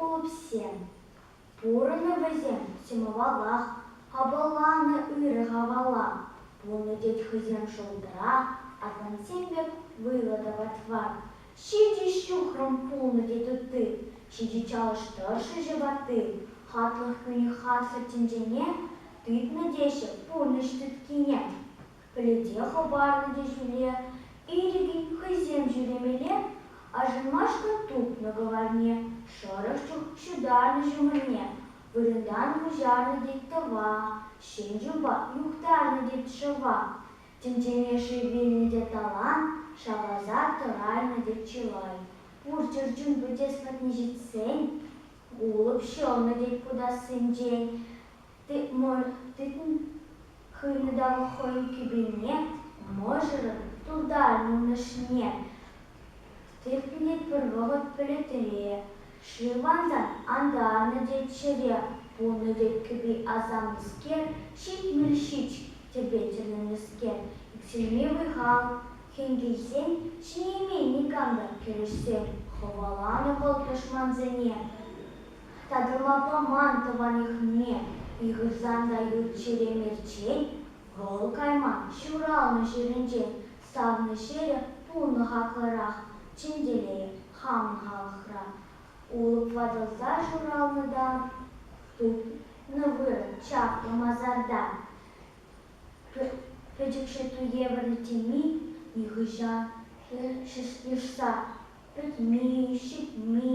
Улӑпсем. Пурӑннӑ вӗсем ҫӑмӑллӑх, хапӑлланӑ ырӑ хавала. Пулнӑ тет хӑйсем шултра, Атнансем пек вӑйлӑ тӑват фан. Ҫичӗ ҫухрӑм пулнӑ тет ытти, ҫичӗ чалӑш тӑршшӗҫӗ ватти, хатлӑх кӳни харсӑр тӗнчене тытнӑ теҫҫӗ пурнӑҫ тыткине. Пӗлӗте хӑпарнӑ те ҫӳле ирӗкӗн хӑйсем ҫӳремеле Ашӑнмашкӑн тупнӑ кӑварне, шӑрӑх чух ҫутарнӑ ҫумӑрне вырӑнтан куҫарнӑ тет тӑва, ҫен юпа юхтарнӑ тет шӑва. Тӗнчене шыв вилнӗ те талант, шавласа тӑраймӗ те чылай. Пур чӗрчун вӗтеслӗхне ҫитсен, Гулӑп ҫӑмӗ тет путассинчен, Тытӑн хӑйнӑ та хӑй кӳпене, Мӑшӑрӑн туртаймӑн ӑшне. Техник пӗр вӑхӑт пӗлӗтре шырлансан антарнӑ те чӗре пунӑ тет кӗпи асамлӑскер, ҫитмӗл-ҫич тӗпе тӗлӗннӗскер, иксӗлми вӑй-хал, хӗн-кӗҫсен ҫиеймен никам та кӗрешсен хӑваланӑ вӑл тӑшмансене. Татӑлма паман тӑванӗхне ыйхӑрсан та ют чӗре мерчен вӑл кайман ҫуралнӑ ҫӗрӗнчен Савнӑ ҫӗрӗ пулнӑ хаклӑрах, Чӗнтӗле, хамӑн халӑхра. Улӑп ватӑлса шуралнӑ та, Тытнӑ вырӑн чаплӑ масарта. Пӗчӗкҫӗ туевӗрлӗ теми Нихӑҫан хӗр шӑшса пӗтми, ҫитми.